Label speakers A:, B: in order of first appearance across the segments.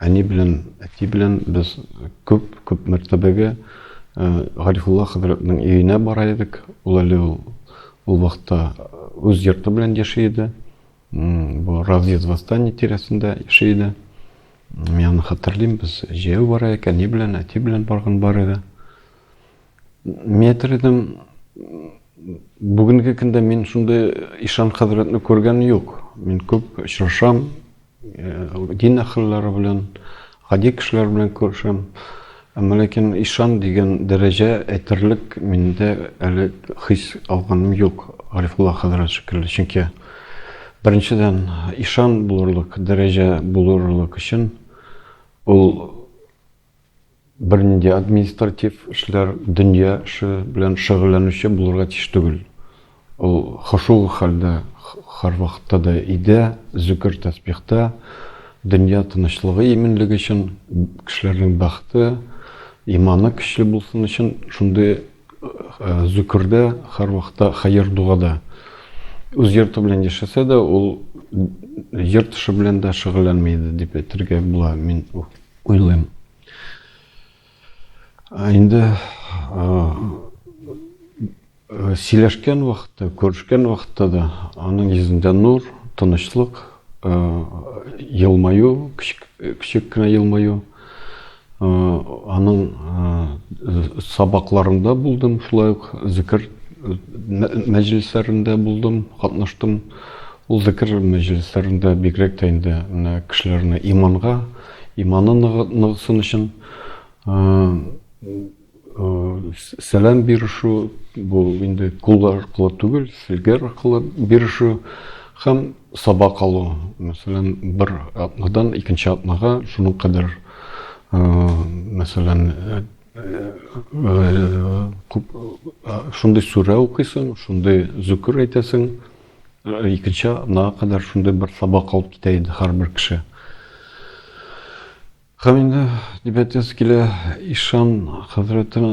A: Әни белән әти белән без күп, күп мәртәбәгә Гарифулла хәзрәтнең өенә бара идек. Ул әле ул, ул вакытта үз йорты белән яши иде. Бу разъезд восстание тирәсендә яши иде. Мин аны хәтерлим, без җәяү бара идек, әни белән, әти белән барган бар иде. Мин әйтер идем, бүгенге көндә мин шундый ишан хәзрәтне күргән юк. Мин күп очрашам, Дин әһелләре белән, гади кешеләр белән күрешәм. Әмма ләкин ишан дигән дәрәҗә әйтерлек миндә әле хис алганым юк, Гарифулла хәзрәт шикелле. Чөнки беренчедән, ишан булырлык дәрәҗә булырлык өчен ул Бернинди административ эшләр, дөнья эше белән шөгыльләнүче булырга тиеш түгел. Ул хошугы хәлдә һәрвакытта да өйдә, зөкер-тәсбихта, дөнья тынычлыгы, иминлеге өчен, кешеләрнең бәхете, иманы көчле булсын өчен шундый зөкердә, һәрвакытта хәер-дугада. Үз йорты белән яшәсә дә, ул йорт эше белән дә шөгыльләнми иде, дип әйтергә була. Мин Уйлыйм. Инде сөйләшкән вакытта, күрешкән вакытта да аның йөзендә нур, тынычлык, елмаю, кичек кенә елмаю. Аның сабакларында булдым, шулай ук зикер мәҗлесләрендә булдым, катнаштым. Ул зекер мәҗлесләрендә бигрәк тә инде менә кешеләрне иманга, иманы ныгысын өчен сәлам бирешү, бу инде кул аркылы түгел, сигер аркылы бирешү һәм сабак алу. Мәсәлән, бер атнадан икенче атнага шуның кадәр мәсәлән күп шундый сүрә укыйсың, шундый зөкер әйтәсең, Икенче атнага кадәр шундый бер сабак алып китә иде һәрбер кеше. Һәм инде дибәтәсе килә ишан хәзрәтен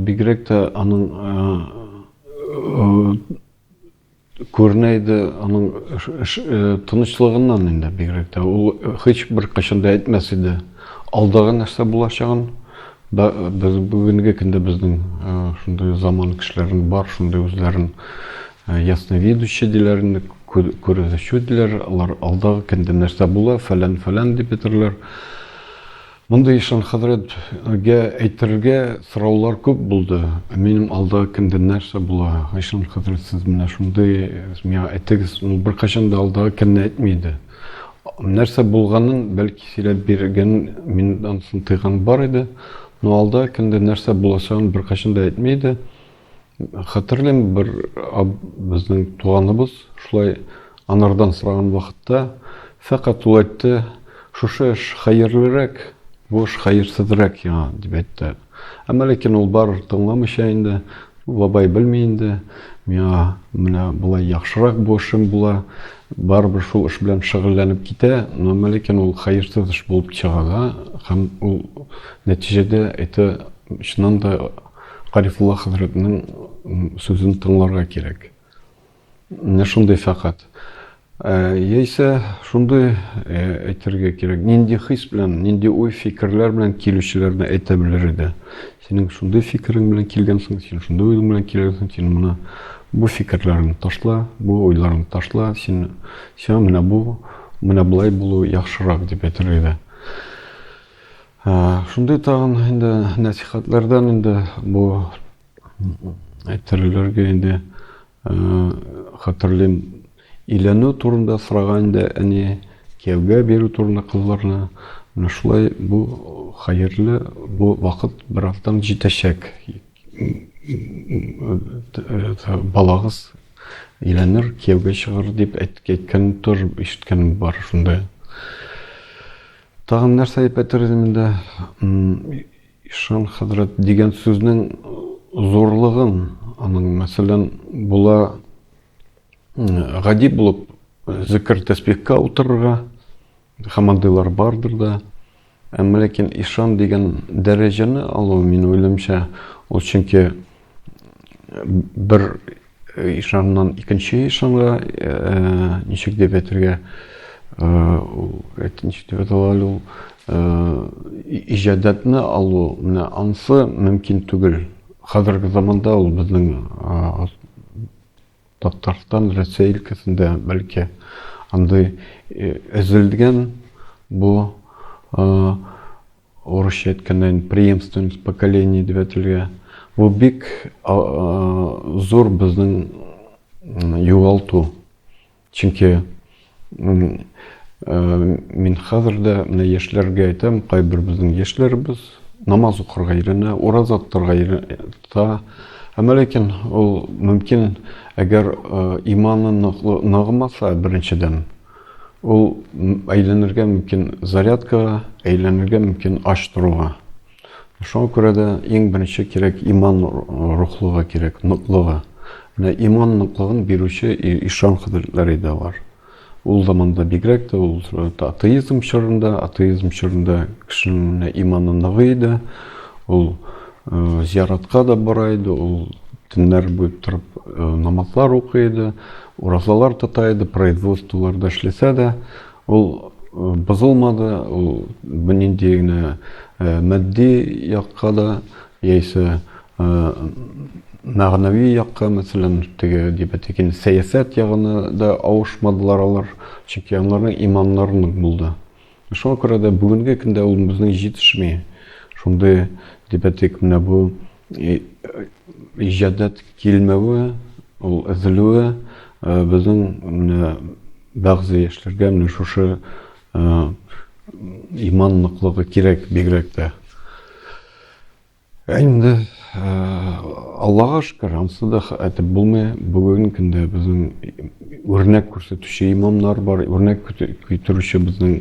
A: бигрәк тә аның күренә иде аның тынычлыгыннан инде бигрәк тә ул һичбер кайчан да әйтмәс иде алдагы нәрсә булачагын Да, без бүгенге көндә безнең э, шундый заман кешеләрен бар, шундый үзләрен э, ясновидущий диләр инде, күрүче диләр. Алар алдагы көндә нәрсә була, фәлән фәлән дип әйтерләр. Мондый ишан хәзрәтгә әйтергә сораулар күп булды. Минем алда кемдә нәрсә була? Ишан хәзрәт сез менә шундый миңа әйтегез. Ул беркайчан да алда кемне әйтмейде. Нәрсә булганын, бәлки, сөйләп биргән, мин анысын тыйган бар иде. Но алда кемдә нәрсә булачагын беркайчан да әйтми иде. Хәтерлим, бер безнең туганыбыз шулай анардан сораган вакытта, фәкать ул әйтте, шушы эш хәерлерәк, бу эш хәерсезрәк яңа, дип әйтте. Әмма ләкин ул бар тыңламыйча инде, бабай белми инде, миңа менә болай яхшырак бу эшем була, барыбер шул эш белән шөгыльләнеп китә, но әмма ләкин ул хәерсез эш булып чыга да, һәм ул нәтиҗәдә это чыннан да Гарифулла хәзрәтнең сүзен тыңларга кирәк. Менә шундый фәкать. Яисә шундый әйтергә кирәк, нинди хис белән, нинди уй фикерләр белән килүчеләрне әйтә белер иде. Синең шундый фикерең белән килгәнсең, син шундый уй белән килгәнсең, син моны бу фикерләреңне ташла, бу уйларыңны ташла, син сиңа менә бу, менә болай булу яхшырак дип әйтер иде. Шундый тагын инде нәсихатлардан инде бу Әйтерләргә инде хәтерлим, өйләнү турында сораган инде әни, кияүгә бирү турында кызларны. Менә шулай бу хәерле, бу вакыт бераздан җитәчәк. Балагыз өйләнер, кияүгә чыгар дип әйткән тор, ишеткәнем бар шундый. Тагын нәрсә әйтер идем инде? Ишан хәзрәт дигән сүзнең зурлыгын, аның, мәсәлән, була гади булып зикер-тәсбихка утырырга һәм андыйлар бардыр да. Әмма ләкин ишан дигән дәрәҗәне алу, мин уйлыймча, ул чөнки бер ишаннан икенче ишанга ничек дип әйтергә ничек дип әйтә әле ул иҗадәтне алу менә ансы мөмкин түгел хәзерге заманда ул безнең татарстан рәсәй өлкәсендә бәлки андый өзелгән бу Урысча әйткәндә инде преемственность поколений дип әйтелгән. Бу бик зур безнең югалту. Чөнки мин хәзер дә менә яшьләргә әйтәм, кайбер безнең яшьләребез намаз укырга өйрәнә, ураза тотарга өйрәтә. Әмма ләкин ул мөмкин, әгәр иманы ныгымаса, беренчедән, Ул әйләнергә мөмкин зарядкага, әйләнергә мөмкин ач торуга. Шуңа күрә дә иң беренче кирәк иман рухлыгы кирәк, ныклыгы. Менә иман ныклыгын бирүче ишан хәзрәтләре дә бар. Ул заманда бигрәк тә ул э, атеизм чорында, атеизм чорында кешенең иманы ныгы иде. Ул Зияратка да бара иде ул, төннәр буе торып намазлар укый иде, уразалар тота иде, производстволарда эшләсә дә, ул бозылмады, ул нинди генә матди якка да, яисә мәгънәви якка, мәсәлән, теге дибәтекин сәясәт ягына да авышмадылар алар, чөнки аларның иманнары нык булды. Шуңа күрә дә бүгенге көндә ул безнең җитешми. Шундый, дип әйтик, менә бу иҗадәт килмәве, ул өзелүе безнең менә бәгъзе яшьләргә менә шушы иман ныклыгы кирәк бигрәк тә. Әйнде, Аллага шкер, ансы да әйтеп булмый. Бүген көндә безнең үрнәк күрсәтүче имамнар бар, үрнәк көтүрүче безнең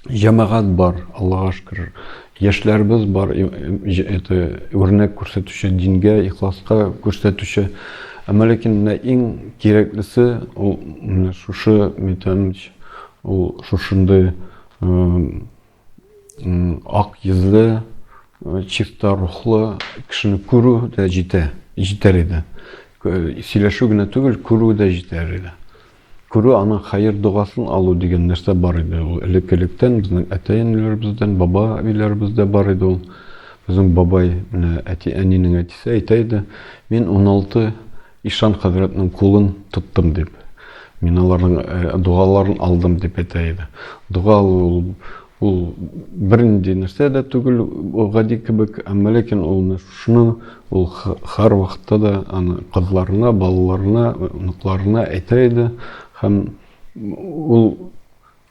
A: җәмәгать бар, Аллага шкер. Яшьләребез бар, это үрнәк күрсәтүче дингә, ихласка күрсәтүче. Әмма ләкин менә иң кирәклесе ул шушы метамич, ул шушындый Ак йөзле, чиста рухлы кешене күрү дә җитә, җитәр иде. Сөйләшү генә түгел, күрү дә җитәр иде. Күрү аның хәер догасын алу дигән нәрсә бар иде. Ул элеккелектән безнең әтәй-әниләребездән, баба өйләребездә бар иде ул. Безнең бабай, әти-әнинең әтисе әйтә иде, мин 16 Ишан хәзрәтнең кулын тоттым дип, мин аларның догаларын алдым дип әйтә иде. Дога алу ул, ул бернинди нәрсә дә түгел, гади кебек, әмма ләкин ул шуны ул һәр вакытта да аны кызларына, балаларына, оныкларына әйтә иде һәм ул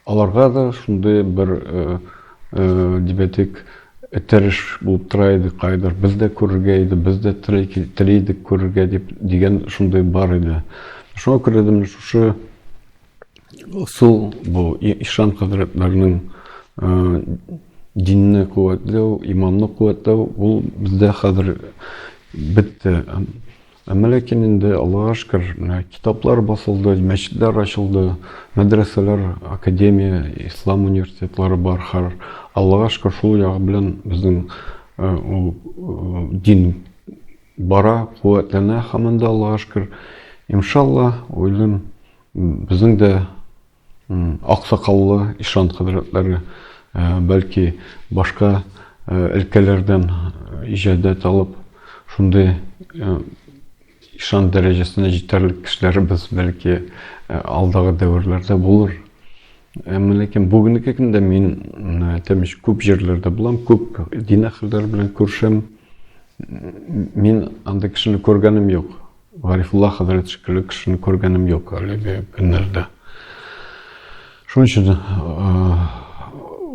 A: Аларга да шундый бер дибәтик этәреш булып тора иде кайдыр. Без дә күрергә иде, без дә тели идек күрергә дип дигән шундый бар иде. Шуңа күрә дә менә шушы ысул бу ишан хәзрәтләрнең динне куәтләү, иманны куәтләү ул бездә хәзер бетте. Әмма ләкин инде, Аллага шөкер, менә китаплар басылды, мәчетләр ачылды, мәдрәсәләр, академия, ислам университетлары бар. Хәр, Аллага шөкер, шул ягы белән безнең ул дин бара, куәтләнә һаман да, Аллага шөкер. Иншалла, уйлыйм, безнең дә Аксакаллы ишан хәзрәтләре, бәлки, башка өлкәләрдән иҗадәт алып, шундый ишан дәрәҗәсенә җитәрлек кешеләребез, бәлки, алдагы дәверләрдә булыр. Әмма ләкин бүгенге көндә мин әйтәмеш күп җирләрдә булам, күп дин әһелләре белән күрешәм. Мин андый кешене күргәнем юк. Гарифулла хәзрәт шикелле кешене күргәнем юк әлеге көннәрдә. Шуның өчен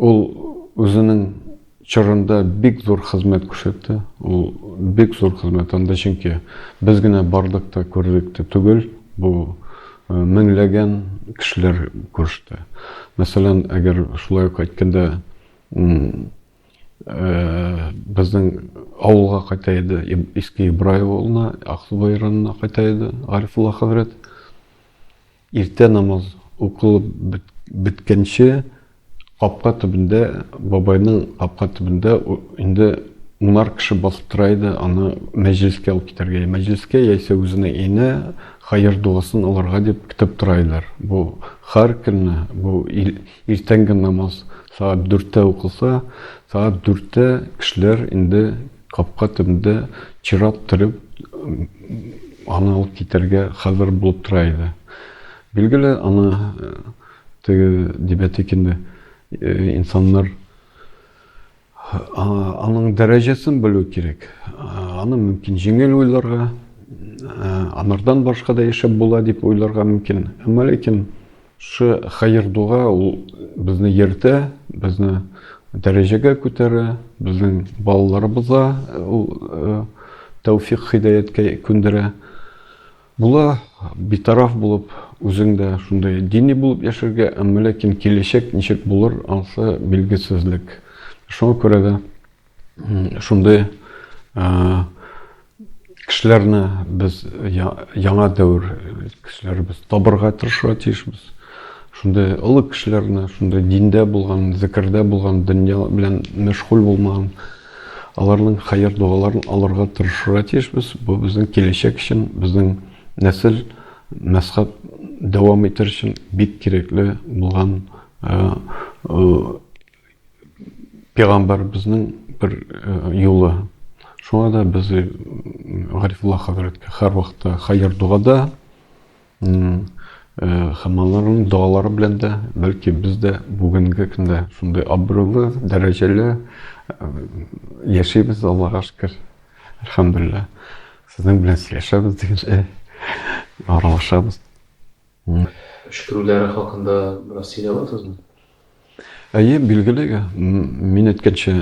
A: ул үзенең чорында бик зур хезмәт күрсәтте. Ул бик зур хезмәт анда чөнки без генә бардык та күрдек тә түгел, бу меңләгән кешеләр күреште. Мәсәлән, әгәр шулай ук әйткәндә, Э, безнең авылга кайта иде иске ибраев авылына аксубай районына кайта иде гарифулла хәзрәт иртә намаз укылып беткәнче капка төбендә бабайның капка төбендә инде унар кеше басып тора иде аны мәҗлескә алып китәргә мәҗлескә яисә үзенә инә хәер дуасын алырга дип көтеп тора иделәр бу һәр көнне бу иртәнге намаз Сәгать дүрттә укылса, сәгать дүрттә кешеләр инде капка төбендә чират төреп, аны алып китәргә хәзер булып тора иде. Билгеле, аны теге Дибәтекинне инсаннар аның дәрәҗәсен белү кирәк. Аны мөмкин җиңел уйларга, анардан башка да яшәп була дип уйларга мөмкин. Әмма ләкин Шушы хәер-дога ул безне йөртә, безне дәрәҗәгә күтәрә, безнең балаларыбызга ул тәүфик хидаяткә күндерә. Була битараф булып, үзең дә шундый дини булып яшәргә, әмма ләкин киләчәк ничек булыр, анысы билгесезлек. Шуңа күрә дә Шундый кешеләрне без яңа дәвер кешеләре без табырга тырышырга тиешбез. Шундый олы кешеләрне, шундый диндә булган, зикердә булган, дөнья белән мәшгуль булмаган аларның хәер дуаларын алырга тырышырга тиешбез. Бу безнең киләчәк өчен, безнең нәсел, мәзхәб дәвам итер өчен бик кирәкле булган Пәйгамбәребезнең бер э, юлы. Шуңа да без э, Гарифулла хәзрәткә һәр вакытта хәер догада һәм э, аларның догалары белән дә бәлки без дә бүгенге көндә шундый абруйлы дәрәҗәле э, яшәйбез аллага шөкер әлхәмдулилла сезнең белән сөйләшәбез дигәнчә аралашабыз
B: үчкерүләре хакында бераз сөйләп аласызмы Әйе,
A: билгеле, мин әйткәнчә,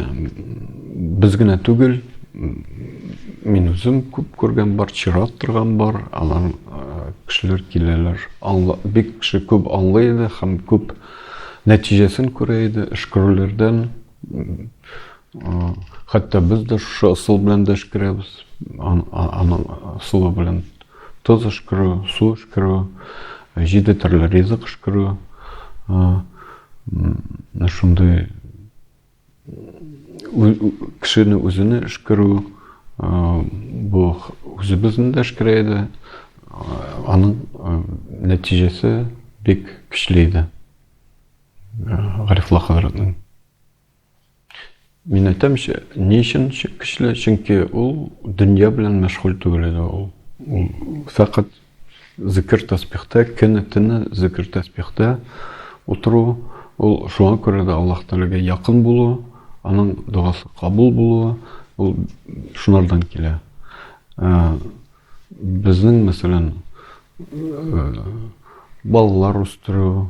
A: без генә түгел, мин үзем күп күргән бар, чират торган бар, алар кешеләр киләләр. Аңла, бик кеше күп аңлый иде һәм күп нәтиҗәсен күрә иде эш күрүләрдән. Хәтта без дә шушы ысул белән дә эшкерәбез. Аның ысулы белән тоз эшкерү, су эшкерү, җиде төрле ризык эшкерү. Шундый кешене үзенә эшкерү бу үзебезне дә эшкерә иде. Аның нәтиҗәсе бик көчле иде. Гарифулла хәзрәтнең Мин әйтәм, ни өчен көчле? Чөнки ул дөнья белән мәшгуль түгел иде ул. Ул фәкать зикер тәсбихтә, кене тине зикер тәсбихтә утыру, ул шуңа күрә дә Аллаһ Тәгаләгә якын булу, аның догасы кабул булуы, ул шунардан килә. Ә, безнең, мәсәлән, э, балалар үстерү,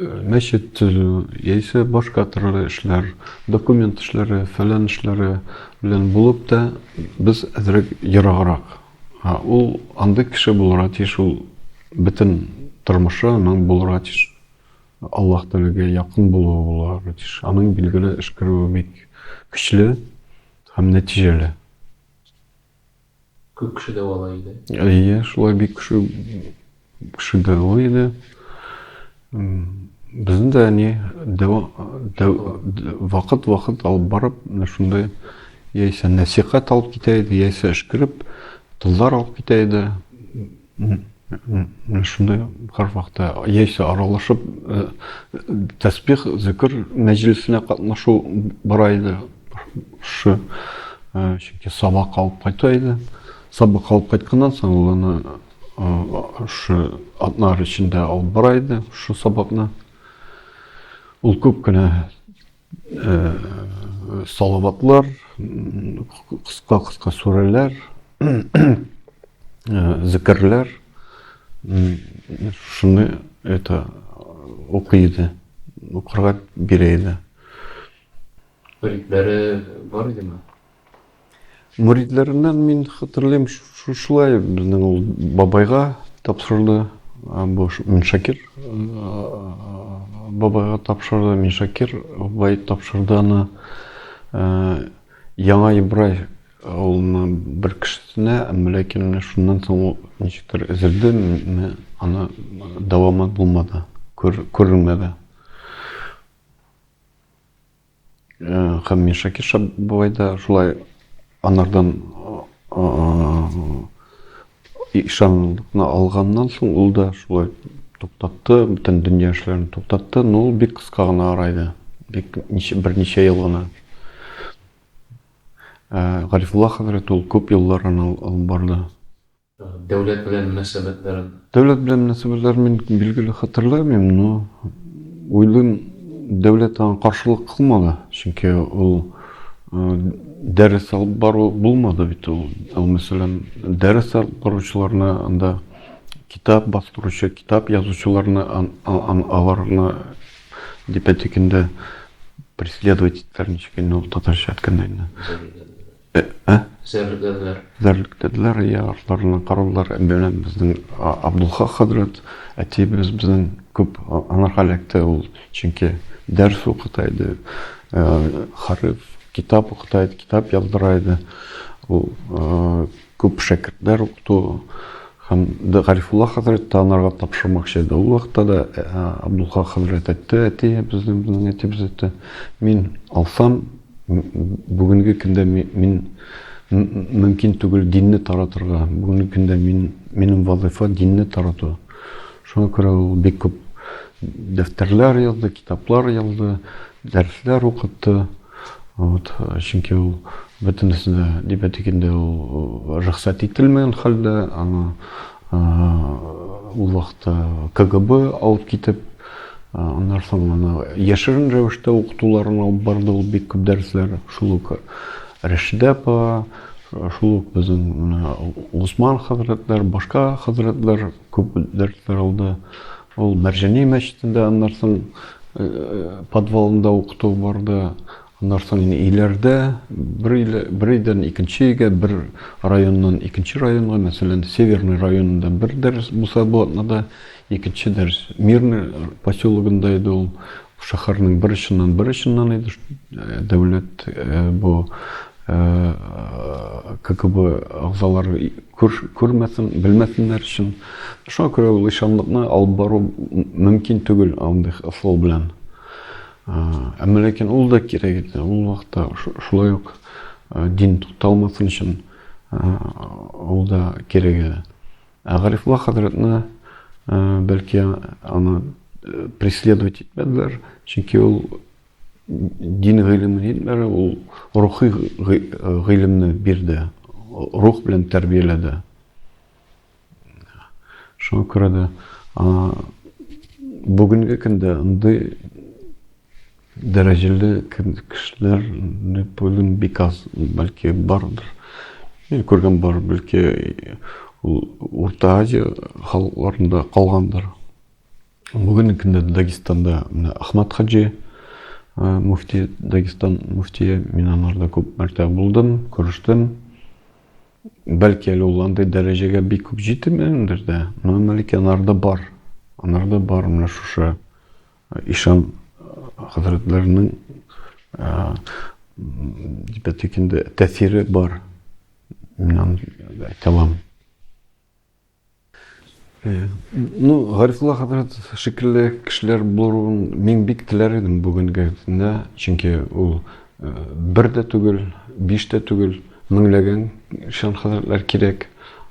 A: мәчет төзү яисә башка төрле эшләр, документ эшләре, фәлән эшләре белән булып та без әзрәк ераграк. Ул андый кеше булырга тиеш, ул бөтен тормышы аның булырга тиеш. Аллаһ Тәгаләгә якын булуы булырга тиеш. Аның билгеле эшкәрүе бик көчле һәм нәтиҗәле.
B: Күп кеше дәвалай иде. Әйе, шулай бик
A: кеше кеше дәвалай иде. Безне дә әни вакыт-вакыт алып барып, шундай яисә нәсихәт алып китә иде, яисә эшкереп, тыллар алып китә иде. Менә шундый һәрвакытта яисә аралашып э, тәсбих, зикр мәҗлесенә катнашу бара иде. Шушы э, чөнки сабак алып кайта иде. Сабак алып кайтканнан соң ул аны э, шушы атнар эчендә алып бара иде, шушы сабакны. Ул күп кенә Салаватлар, кыска-кыска сүрәләр, зикерләр. Шуны это укый иде. Укырга бирә иде.
B: Бүлекләре бар
A: идеме? Мөридләреннән мин хәтерлим, шушылай безнең ул бабайга тапшырды, бу Миншакир бабайга тапшырды, Миншакир бай тапшырды аны Яңа Ибрай авылына бер кешесенә, ләкин менә шуннан соң ул ничектер өзелде, аны дәвамы булмады, күренмәде. Һәм мин Шакирша бабай да шулай анардан ишанлыкны алганнан соң ул да шулай туктатты, бөтен дөнья эшләрен туктатты, но ул бик кыска гына арайды. Бик берничә ел гына. Гарифулла хәзрәт ул күп еллар аны алып барды. Дәүләт
B: белән мөнәсәбәтләрен? Дәүләт белән мөнәсәбәтләрен
A: мин, билгеле, хәтерләмим, но уйлыйм, дәүләт аңа каршылык кылмады, чөнки ул дәрес алып бару булмады бит ул. Ул, мәсәлән, дәрес алып баручыларны анда китап бастыручы, китап язучыларны аларны дип әйтик инде преследовать иттеләр, ничек инде ул татарча әйткәндә инде. Ә? Зәрлектәделәр. Зәрлектәделәр, я, артларына каралар. Менә безнең Абдулхак хәзрәт, әтиебез безнең күп анарга эләкте ул, чөнки дәрс укыта иде, э, хариф, китап укыта иде, китап яздыра иде. Ул э, күп шәкертләр укыту һәм Гарифулла хәзрәт тә анарга тапшырмакчы иде. Ул вакытта да э, Абдулхак хәзрәт әйтте, әтиебезнең, безнең әтиебез әйтте, мин алсам, Бүгенге көндә мин мөмкин түгел динне таратырга. Бүгенге көндә мин минем вазыйфа динне тарату. Шуңа күрә ул бик күп дәфтәрләр язды, китаплар язды, дәресләр укытты. Вот, чөнки ул бөтенесе дә дибәтикендә ул рөхсәт ителмәгән хәлдә, аны ул вакытта КГБ алып китеп, Аннан соң аны яшерен рәвештә укытуларын алып барды ул бик күп дәресләр. Шул ук Рәшидә апа, шул ук безнең Госман хәзрәтләр, башка хәзрәтләр күп дәресләр алды. Ул Мәрҗани мәчетендә аннан соң подвалында укыту барды. Аннан соң инде өйләрдә бер өйлә, бер өйдән икенче өйгә, бер районнан икенче районга, мәсәлән, Северный районында бер дәрес булса, бу атнада икенче дәрес. Мирный поселогында иде ул, шәһәрнең бер очыннан бер очыннан иде, э, дәүләт э, бу э, КГБ агзалары күр, күрмәсен, белмәсеннәр өчен. Шуңа күрә ул ишанлыкны алып бару мөмкин түгел андый ысул белән. Әмма ләкин ул да кирәк иде. Ул вакытта шулай ук дин тукталмасын өчен ул да кирәк иде. Ә Гарифулла хәзрәтне бәлки аны преследовать итмәделәр, чөнки ул дин гыйлемен итмәде, ул рухи гыйлемне бирде, рух белән тәрбияләде. Шуңа күрә дә бүгенге көндә андый дәрәҗәле кешеләр бүген бик аз, бәлки бардыр. Мин күргән бар, бәлки ул Урта Азия халыкларында калгандыр. Бүгенге көндә Дагестанда менә Ахмад Хаджи муфти Дагестан муфтие, мин анарда күп мәртәбә булдым, күрештем. Бәлки әле ул андый дәрәҗәгә бик күп җитмәгәндер дә, но мәлики анарда бар. Анарда бар менә шушы ишан хәзрәтләренең дип әйтик инде тәэсире бар. Мин аны әйтә алам. Ну, Гарифулла хәзрәт шикелле кешеләр булуын мин бик теләр идем бүгенге көндә, чөнки ул э, бер дә түгел, биш дә түгел, меңләгән шән хәзрәтләр кирәк.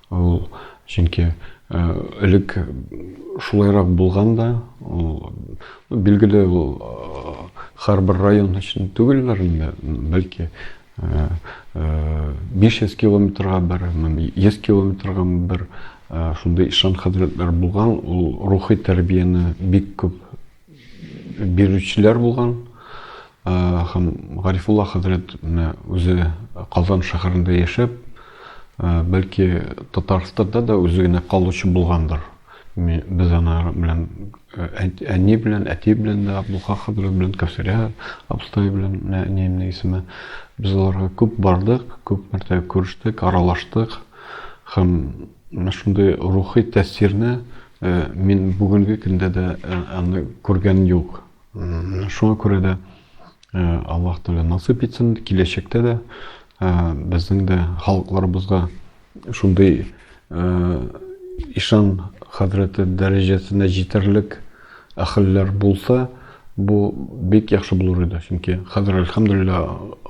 A: Ул чөнки э, элек шулайрак булган да, ул билгеле ул э, һәрбер район өчен түгелләр инде, бәлки 500 километрга барамын, 100 километрга бер шундый ишан хәзрәтләр булган, ул рухи тәрбияне бик күп бирүчеләр булган. Һәм Гарифулла хәзрәт менә үзе Казан шәһәрендә яшәп, бәлки Татарстанда да үзе генә калучы булгандыр. Ми, без анар белән, э, әни белән, әти белән дә, Абдулха хәзрәт белән, Кәүсәрә абыстай белән, менә әниемнең исеме. Без аларга күп бардык, күп мәртәбә күрештек, аралаштык. Һәм менә шундый рухи тәэсирне э, мин бүгенге көндә дә э, аны күргән юк. Шуңа күрә дә Аллаһ Тәгалә насыйп итсен, киләчәктә дә безнең дә халыкларыбызга шундый ишан хәзрәте дәрәҗәсенә җитәрлек әхелләр булса, бу бик яхшы булыр иде. Чөнки хәзер әлхәмдулилла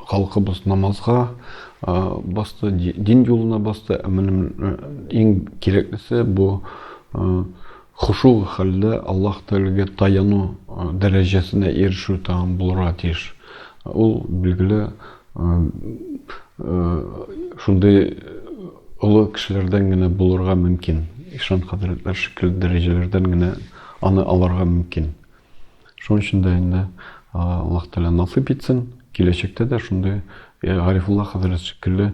A: халкыбыз намазга басты, дин юлына басты. Ә менә иң кирәклесе бу Хошугы хәлдә Аллаһ Тәгаләгә таяну дәрәҗәсенә ирешү тәмам булырга тиеш. Ул, билгеле, шундый олы кешеләрдән генә булырга мөмкин, ишан хәзрәтләр шикелле дәрәҗәләрдән генә аны алырга мөмкин. Шуның өчен дә инде Аллаһ Тәгалә насыйп итсен, киләчәктә дә шундый Гарифулла хәзрәт шикелле